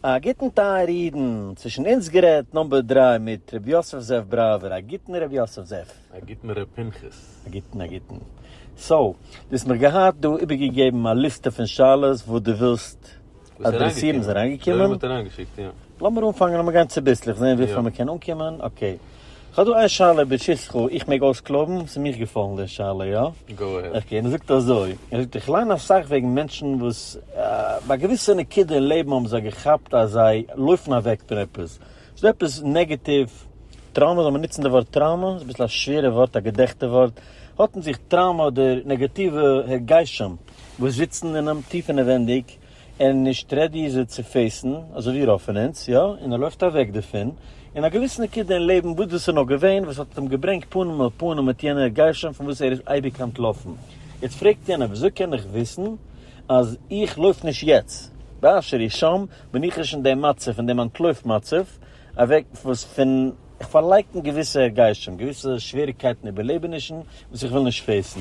א גוטן טייערע אידן, צווישן אונז גערעדט נאמבער דרײַ מיט ר' יוסף זאב בראווער, א גוטן ר' יוסף זאב. א גוטן ר' פנחס. א גוטן א גוטן. סאו, דו האסט מיך געהאט דא איבערגעגעבן א ליסטע פון שאלות וואס דו ווילסט אדרעסירן, ס'איז אריינגעקומען? לאמיר אנפאנגען, לאמיר גיין צוביסלעך זעהן וויפיל מען קען אנקומען, אקעי. כ'האב דא איין שאלה בשיסחו, איך מעג אויסקלויבן? ס'איז מיך געפאלן די שאלה, יא? גאו אהעד. אקעי, ער זאגט אזוי, ער זאגט איך ליין אסאך וועגן מענטשן וואס ביי א געוויסע נקודה אין לעבן האבן זיי געכאפט אז זיי לויפן אוועק פון עפעס, ס'דא עפעס נעגעטיוו, טראומא, זאל מען נוצן די ווארט טראומא? ס'איז אביסל א שווערע ווארט, א געדעכטע ווארט, האט אין זיך טראומא אדער נעגאטיווע הרגשים וואס זיצן אינעם טיף אינעווענדיג, און נישט רעדי איז ער צו פעיסן, אזוי ווי רוב פון אונז, יא, און ער לויפט אוועק דערפון, און א געוויסע נקודה אין לעבן, וואס דאס איז נאר געווען, וואס האט אים געברענגט פנים אל פנים מיט יענער גרשון פון וואס ער איז אייביג אנטלאפן. יעצט פרעגט יענער, וויאזוי קען איך וויסן אז איך לויף נישט יעצט, באשר היא שם, בין איך נישט אין דעם מצב, אין דעם אנטלויף מצב, אוועק וואס פון איך פארלייקן געוויסע הרגשים, געוויסע שוועריגקייטן איבערלעבענישן, וואס איך וויל נישט פעיסן.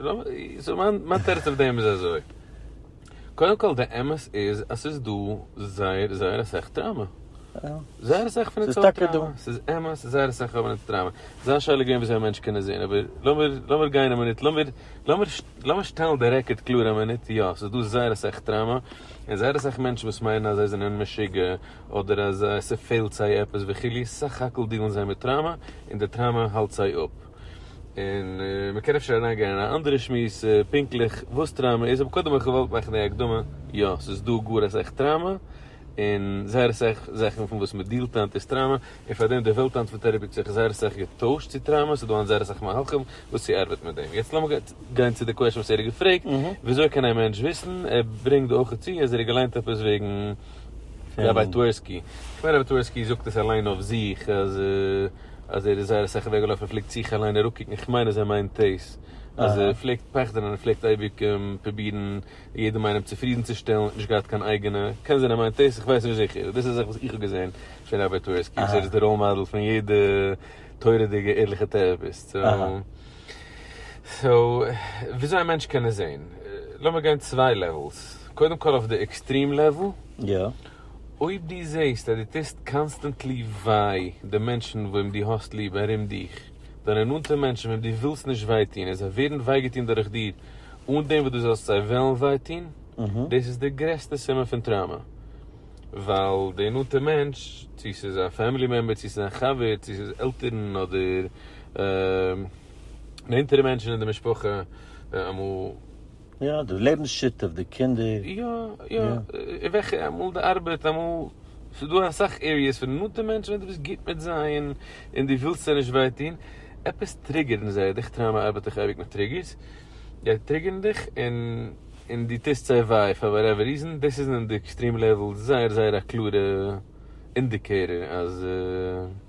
מיין תירוץ אויף דעם איז אזוי, קודם כל די אמת איז אז ס'איז דא זייער זייער אסאך טראמא, זייער אסאך פון די צרות טראמא, ס'איז אמת זייער אסאך האבן אונז טראמא, ס'איז א שאלה געווען וויאזוי א מענטש קען עס זעהן, אבער לאמיר לאמיר גיין א מינוט, לאמיר לאמיר לאמיר שטעלן די רעקארד קלאר א מינוט, יא ס'איז דא זייער אסאך טראמא, און זייער אסאך מענטשן וואס מיינען אז זיי זענען משוגע, אדער אז ס'פעלט זיי עפעס וכו', סך הכל דיעלן זיי מיט טראמא, און די טראמא האלט זיי אפ. און מ'קען אפשר אריין גיין אין א אנדערע שמועס פונקטליך וואס טראמע איז, אבער קודם האב איך געוואלט מאכן די הקדמה, יא ס'איז דא גאר אסאך טראמע, און זייער אסאך זאכן פון וואס מ'דילט היינט איז טראמע, און פאר דעם די וועלט היינט פון טערעפי האט זיך זייער אסאך געטוישט צו טראמע, ס'איז דא היינט זייער אסאך מהלכים וואס צו ארבעטן מיט דעם. יעצט לאמיר גיין צו די קוועשן וואס ער האט געפרעגט, ווי אזוי קען א מענטש וויסן, ער ברענגט דא אויך צו אז ער האט געליינט עפעס וועגן ראביי טווערסקי, כ'מיין ראביי טווערסקי זאגט עס אליין אויף זיך אז. אז ער איז זייער אסאך אוועקגעלאפן, ער פלעגט זיך אליין אראפקוקן, איך מיין אז ער מיינט דאס, אז ער פלעגט פחד'ן און ער פלעגט אייביג פרובירן יעדעם איינעם צופרידנצושטעלן, נישט געהאט קיין אייגענע, קען זיין ער מיינט דאס, איך ווייס נישט זיכער, דאס איז זאך וואס איך האב געזען פון ראביי טווערסקי, וואס ער איז די ראול מאדעל פון יעדע תורה'דיגע ערליכע טעראפיסט, סאו, סאו, וויאזוי א מענטש קען עס זען, לאמיר גיין צוויי לעוועלס, קודם כל אויף די עקסטרים לעוועל, אויב דו זעסט אז דו טוסט קאנסטענטלי וויי די מענטשן וועם דו האסט ליב ארום דיך, דיינע נאנטע מענטשן וועם דו ווילסט נישט וויי טון, און זיי ווערן וויי געטון דורך דיר אן דעם וואס דו זאלסט זיי וועלן וויי טון, דאס איז די גרעסטע סימן פון טראומע, ווייל די נאנטע מענטש, צו ס'איז א פעמילי מעמבער, צו ס'איז א חבר, צו ס'איז עלטערן אדער נענטערע מענטשן אין די משפחה, אמאל יא, די לעבנס שותף, די קינדער. יא, יא, יא. וועלכע, אמאל די ארבעט, אמאל, ס'איז דא אסאך עריעס פון די נאנטע מענטשן ווען דו ביסט גוט מיט זיי און און דו ווילסט זיי נישט וויי טון, עפעס טריגערן זיי, איך טריי מיין ארבעט איך אייביג מיט טריגערס, זיי טריגערן דיך און און דו טוסט זיי וויי פאר וואטעווער ריזען, דאס איז אין די עקסטרים לעוועל זייער זייער א קלארע אינדיקעיטער אז.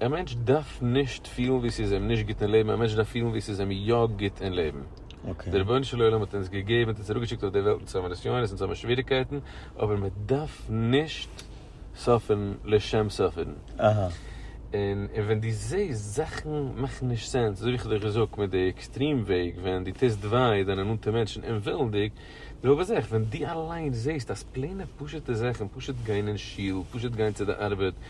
א מענטש דארף נישט פילן ווי ס'איז אים נישט גוט אין לעבן, א מענטש דארף פילן ווי ס'איז אים יא גוט אין לעבן. דער רבונו של עולם האט אונז געגעבן, האט אונז אראפגעשיקט אויף דער וועלט אונז צו האבן נסיונות, אונז צו האבן שוועריגקייטן, אבער מען דארף נישט סאפערן לשם סאפערן. און ווען דו זעסט זאכן מאכן נישט סענס, אזוי ווי איך האב דיר געזאגט מיט די עקסטרים וועג, ווען דו טוסט וויי דיינע נאנטע מענטשן אומווילנדיג, די זעלבע זאך ווען דו אליין זעסט אז פלעינע פשוט'ע זאכן, פשוט גיין אין שול, פשוט גיין צו די ארבעט,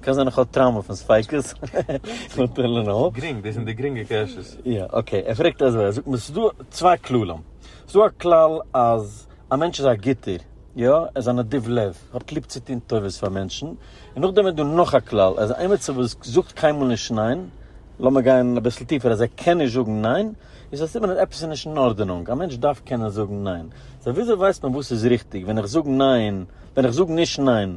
קען זיין איך האב טראומא פון ספיקות. גרינג, דאס זענען די גרינגע קעשעס. יא אקעי, ער פרעגט אזוי, ער זאגט מיר ס'איז דא צוויי כללים, ס'איז דא א כלל אז א מענטש איז א גוטער, יא, ער איז א נדיב לב, ער האט ליב צו טון טובות פאר מענטשן, און נאכדעם איז דא נאך א כלל, ער איז א עימיצער וואס זאגט קיינמאל נישט ניין, לאמיר גיין אביסל טיפער, אז ער קען נישט זאגן ניין, איז א סימן אז עפעס איז נישט אין ארדענונג, א מענטש דארף קענען זאגן ניין, סא וויאזוי ווייסט מען וואס איז ריכטיג, ווען איך זאג ניין, ווען איך זאג נישט ניין.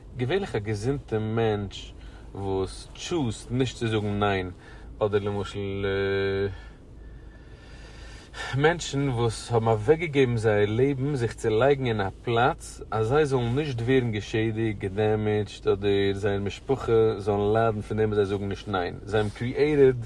געווענליך א געזונטע מענטש וואס טשוזט נישט צו זאגן ניין, אדער למשל מענטשן וואס האבן אוועקגעגעבן זייער לעבן זיך צו לייגן אין א פלאץ אז זיי זאלן נישט ווערן געשעדיגט, געדעמעדזשט, אדער זייער משפחה זאלן ליידן פון דעם וואס זיי זאגן נישט ניין, זיי האבן קריעיטעד.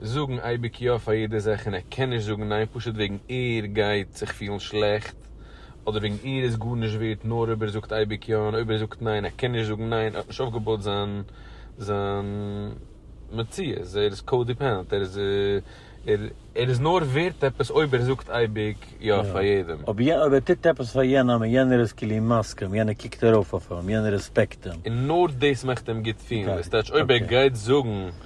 זאגן אייביג יא פאר יעדע זאך און ער קען נישט זאגן ניין פשוט וועגן ער גייט זיך פילן שלעכט אדער וועגן ער איז גארנישט ווערט נאר אויב ער זאגט אייביג יא און אויב ער זאגט ניין ער קען נישט זאגן ניין ער האט נישט אויפגעבויט זיין זיין מציאות ער איז קאודעפענט ער איז ער איז נאר ווערט עפעס אויב ער זאגט אייביג יא פאר יעדעם. יא אויב ער טוט עפעס פאר יענעם און יענער איז כאילו מסכים יענער קוקט ארויף אויף אים יענער רעספעקט אים. און נאר דאס מאכט אים גוט פילן וואס טייטש אויב ער גייט זאגן.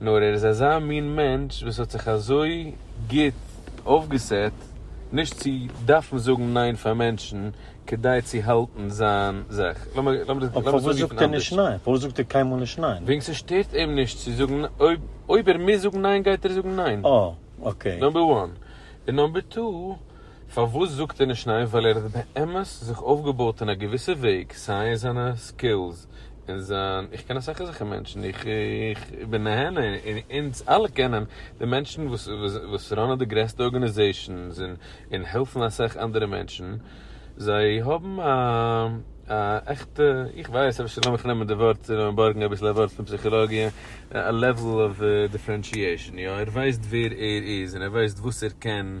נאר ער איז אזא מין מענטש וואס האט זיך אזוי גוט אויפגעסעט נישט צו דארפן זאגן ניין פאר מענטשן כדי צו האלטן זיין זאך. אבער פארוואס זאגט ער נישט ניין? פארוואס זאגט ער קיינמאל נישט ניין? וועגן ס'שטערט אים נישט צו זאגן ניין. אויב ער מוז זאגן ניין גייט ער זאגן ניין. אה, אקעי. נאמבער וואן. און נאמבער טו. פארוואס זאגט ער נישט ניין? ווייל ער האט באמת זיך אויפגעבויט אין א געוויסע וועג, סיי אין זיינע סקילס, אין זיין, איך קען אסאך אזעלכע מענטשן, איך איך בין נהנה, און אונז אלע קענען די מענטשן וואס וואס ראנען די גרעסטע ארגענעזעישאנס און און העלפן אסאך אנדערע מענטשן, זיי האבן א א עכטע, איך ווייס, אפשר לאמיך נעמען די ווארט, צו לאמיר בארגן אביסל א ווארט פון פסיכאלאגיע, א לעוועל אוו דיפרענשיעישאן, יא, ער ווייסט ווער ער איז און ער ווייסט וואס ער קען,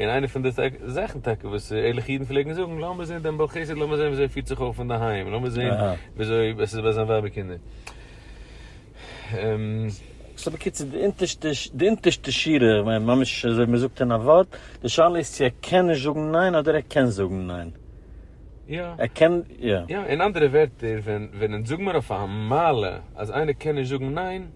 און איינע פון די זאכן טאקע וואס ערליכע אידן פלעגן זאגן, לאמיר זען דעם בעל חסד, לאמיר זען וויאזוי ער פירט זיך אויף אינדערהיים, לאמיר זען וויאזוי עס איז ביי זיין ווייב און קינדער. סאו בקיצור, די אונטערשטע שורה, כ'מיין ממש אזוי מען זאגט אין א ווארט, די שאלה איז צו ער קען נישט זאגן ניין אדער ער קען זאגן ניין. יא. ער קען, יא. יא, אין אנדערע ווערטער, ווען זאג מיר אויף א מעלה אז איינער קען נישט זאגן ניין.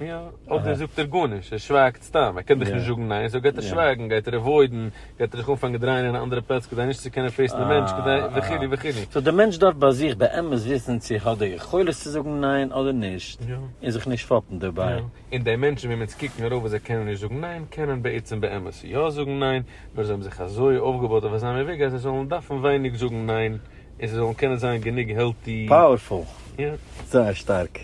יא, אדער זאגט ער גארנישט, ער שווייגט סתם, ער קען דיך נישט זאגן ניין, סאו גייט ער שווייגן, גייט ער עוואוידן, גייט ער זיך אנפאנגען דרייען אין א אנדערע פלאץ כדי נישט צו קענען פעיסן די מענטש כדי וכו' וכו'. סאו די מענטש דארף ביי זיך באמת וויסן צו ער האט די יכולת צו זאגן ניין אדער נישט, און זיך נישט פאפן דערביי. און די מענטשן וועם אונז קוקן ארויף וואס זיי קענען נישט זאגן ניין, קענען בעצם באמת יא זאגן ניין, נאר זיי האבן זיך אזוי אויפגעבויט אויף אזא מין וועג אז זיי זאלן דארפן ווייניג זאגן ניין, און זיי זאלן קענען זיין גענוג העלטי. פאוערפול! יא. זייער שטארק.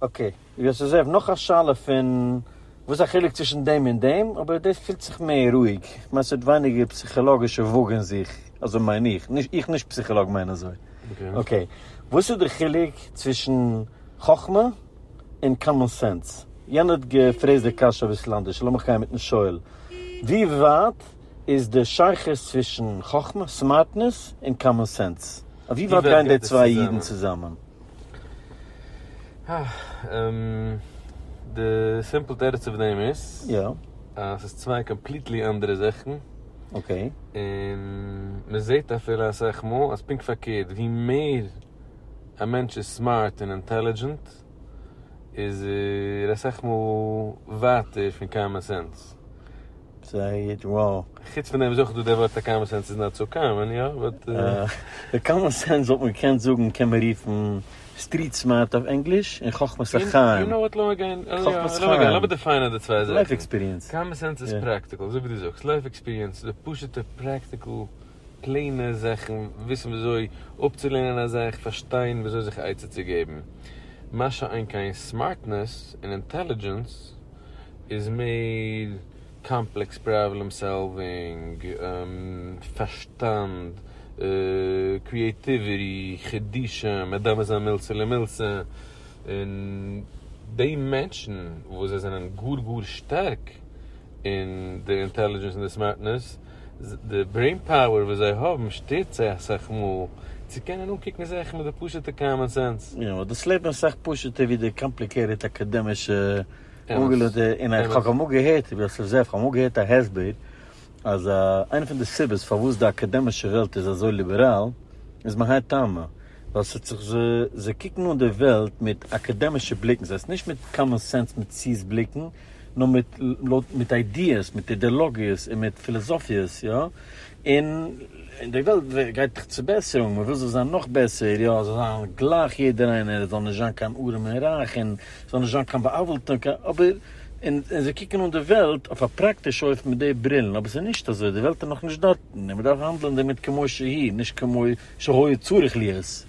אקעי, ווי עס איז אויב נאך א שאלה פון וואס א חילוק צווישן דעם און דעם, אבער דאס פילט זיך מער רואיג, כ'מיין ס'האט ווייניגער פסיכאלאגישע וואג אין זיך, אזוי מיין איך, איך נישט פסיכאלאג מיין אזוי. אקעי, וואס איז די חילוק צווישן חכמה און קאמאן סענס? יענער האט געפרעזט די קשיא אביסל אנדערש, לאמיך גיין מיטן שואל, ווי ווייט איז די שייכות צווישן חכמה, סמארטנעס, און קאמאן סענס? אויף ווי ווייט גייען די צוויי אידן צוזאמען? די סימפל תירוץ אויף דעם איז, אז ס'איז צוויי קאמפליטלי אנדערע זאכן, און מ'זעט אפילו אסאך מאל אז פונקט פארקערט, ווי מער א מענטש איז סמארט און אינטעלידזשענט, איז ער אסאך מאל ווייטער פון קאמאן סענס. זייער וואו. חוץ פון דעם איז אויך דא דער ווארט א קאמאן סענס איז נאט סאו קאמאן, יא? באט. די קאמאן סענס וואלט מען געקענט זאגן קען מען רופן סטריט סמארט אויף ענגליש און חכמת החיים. יו נאו וואט לאמיר גיין, חכמת חיים, לאמיר דיפיינען די צוויי זאכן. לייף עקספיריענס. קאמאן סענס איז פראקטיקל, אזוי ווי דו זאגסט, לייף עקספיריענס איז די פשוט'ע פראקטיקל פלעינע זאכן, וויסן וויאזוי אפצולערנען א זאך, פארשטיין וויאזוי זיך עצה צו געבן. מה שאין כן סמארטנעס און אינטעלידזשענס. איז מער קאמפלעקס פראבלעם סאלווינג, פארשטאנד, קריעטיוויטי, חידושים, מען דארף נישט זיין מילתא למילתא, און די מענטשן וואס זיי זענען גאר גאר שטארק אין די אינטעלידזשענס און די סמארטנעס די ברעין פאוער וואס זיי האבן שטערט זיי אסאך מאל צו קענען אנקוקן זאכן מיט די פשוט'ע קאמאן סענס. יא, אבער דאס לעבן איז אסאך פשוט'ער ווי די קאמפליקעיטעד אקאדעמישע אנגעלענטע, און איך האב אמאל געהערט, איך בין אסאך זאפט, איך האב אמאל געהערט א הסבר אז איינע פון די סיבות פארוואס די אקאדעמישע וועלט איז אזוי ליבעראל איז מהאי טעמא ווייל ס'האט זיך זיי קוקן אן די וועלט מיט אקאדעמישע בליקן, ס'הייסט נישט מיט קאמאן סענס מציאות בליקן, נאר מיט לויט מיט איידיעס מיט אידעלאגיעס און מיט פילאזאפיעס יא און און די וועלט גייט דאך צו בעסערונג מען וויל זאל זיין נאך בעסער יא זאל זיין גלייך יעדער איינער עס זאל נישט זיין קיין ארעם און רייך און עס זאל נישט זיין קיין בא'עוול'טע און קיין אבער און און זיי קוקן אן די וועלט אויף א פראקטישע אופן מיט די ברילן אבער עס איז נישט אזוי די וועלט איז נאך נישט דארטן און מען דארף האנדלען דערמיט כמו שהיא נישט כמו שהיה צריך להיות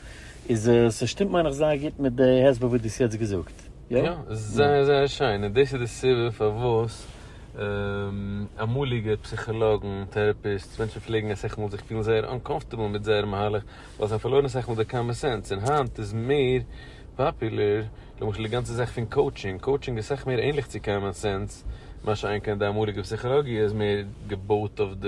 איז עס שטימט מיין איך זייער גוט מיט די הסבר וואס דו האסט יעצט געזאגט. גערעכט. יא? יא, זייער זייער שיין, און דאס איז די סיבה פארוואס אמאליגע פסיכאלאגן, טעראפיסטס, מענטשן פלעגן אסאך מאל זיך פילן זייער אנקאמפארטעבל מיט זייער מהלך, ווייל זיי האבן פארלוירן אסאך מאל די קאמען סענס, און היינט איז מער פאפולער, למשל די גאנצע זאך פון קאוטשינג, קאוטשינג איז אסאך מער ענליך צו קאמען סענס, מה שאין כן די אמאליגע פסיכאלאגיע איז מער געבויט אויף די.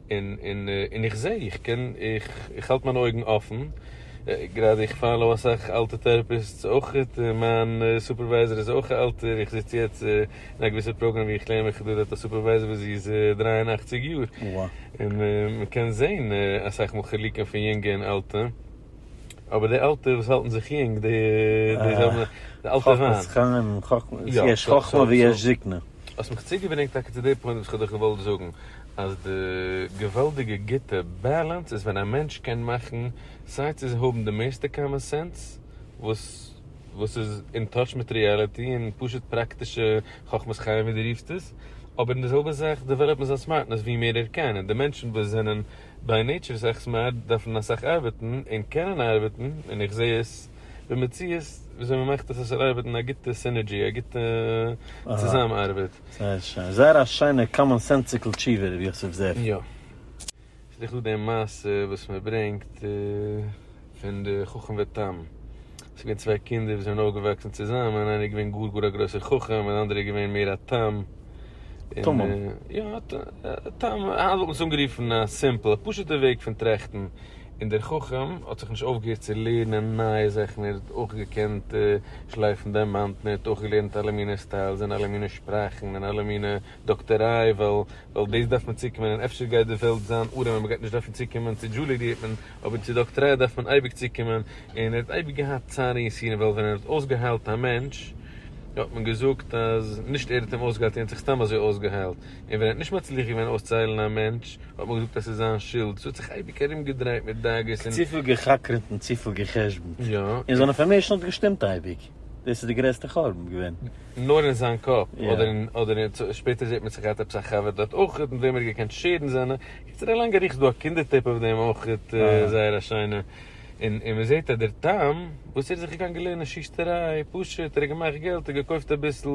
און איך זע, איך קען, איך האלט מיינע אויגן אפן, גראדע איך פאלאו אסאך אלטע טערעפיסטס אויך, מיין סופערווייזער איז אויך א אלטער, איך זיץ יעצט אין א געוויסע פראגראם ווי איך לערן מיך דורך די סופערווייזער וואס זי איז דרײַ און אַכציק יאר, און מען קען זען אסאך מאל חילוקים פון יונגע און אלטע, אבער די אלטע וואס האלטן זיך יונג, די זענען די אלטע וויין. חכמת חכמים, יש חכמה ויש זקנה. האסט מיך צוגעברענגט טאקע צו די פוינט וואס כ'האב דיך געוואלט זאגן, אז די געוואלדיגע גוטע באלאנס איז ווען א מענטש קען מאכן סיי צו האבן די מערסטע קאמאן סענס, וואס וואס איז אין טאטש מיט ריעליטי און פשוט פראקטישע חכמת חיים ווי דו רופסט עס, אבער אין די זעלבע זאך דעוועלאפן זיין סמארטנעס ווי מער ער קען, און די מענטשן וואס זענען ביי נעיטשער אסאך סמארט דארפן אסאך ארבעטן און קענען ארבעטן, און איך זע עס. במציאות וויאזוי מען מאכט עס אז ס'זאל ארבעטן א גוטע סינערדזשי, א גוטע צוזאם ארבעט. זייער שיין, זייער א שיינע קאמאן סענסיקל תשובה ר' יוסף זאב. יא. ס'איז דאך דא די מעשה וואס מען ברענגט פון די חכם ותם. ס'איז געווען צוויי קינדער וואס זענען אויפגעוואקסן צוזאמען, איינער איז געווען גאר גאר א גרויסער חכם און די אנדערע איז געווען מער א תם. תמים. יא, א תם, היינט וואלט מען עס אנגערופן א סימפל, א פשוט'ע וועג פון טראכטן. און דער חכם האט זיך נישט אויפגעהערט צו לערנען נייע זאכן, ער האט אויך געקענט שלייפן דיימאנטן, ער האט אויך געלערנט אלע מיני סטיילס און אלע מיני שפראכן און אלע מיני דאקטעריי, ווייל דאס דארף מען צוקומען און אפשר גייט די וועלט זיין ארעם און מען גייט נישט דארפן צוקומען צו דזשולידיעטן, אבער צו דאקטעריי דארף מען אייביג צוקומען, און ער האט אייביג געהאט צער און יסורים, ווייל ווען ער האט אויסגעהיילט א מענטש האט מען געזאגט אז נישט ער האט אים אויסגעהיילט, ער האט זיך סתם אזוי אויסגעהיילט. און ווען ער האט נישט מצליח געווען אויסצוהיילן א מענטש, האט מען געזאגט אז ס'איז זיין שולד. ס'האט זיך אייביג ארומגעדרייט מיט דאגות און. צופיל גע'חקר'ט און צופיל גע'חשבונ'ט. יא. און זיין אינפארמעישן האט געשטימט אייביג. דאס איז די גרעסטע חורבן געווען. נאר אין זיין קאפ. אדער אין, אדער אין, שפעטער זעט מען צו געהאט עפעס א חבר דארט אויכעט מיט וועם ער האט געקענט שעירן זיינע. קיצור א לאנגע אריכות. ס'דא א קינדער טעיפ אויף דעם אויכעט, זייער א שיינע. און און מ'זעט אז דער טעם וואס ער איז זיך געגאנגען לערנען שוסטעריי, פשוט ער האט געמאכט געלט, ער האט געקויפט אביסל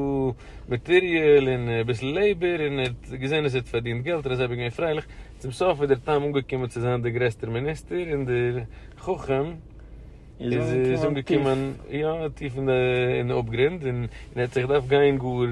מאטעריעל און אביסל לעיבער און ער האט געזען אז ער האט פארדינט געלט און אזוי געווען פרייליך, צום סוף איז דער טעם אנגעקומען צו זיין דער גרעסטער מיניסטער און דער חכם איז אנגעקומען יא טיף אין די אפגרונד און ער האט זיך געדארפט גיין גאר.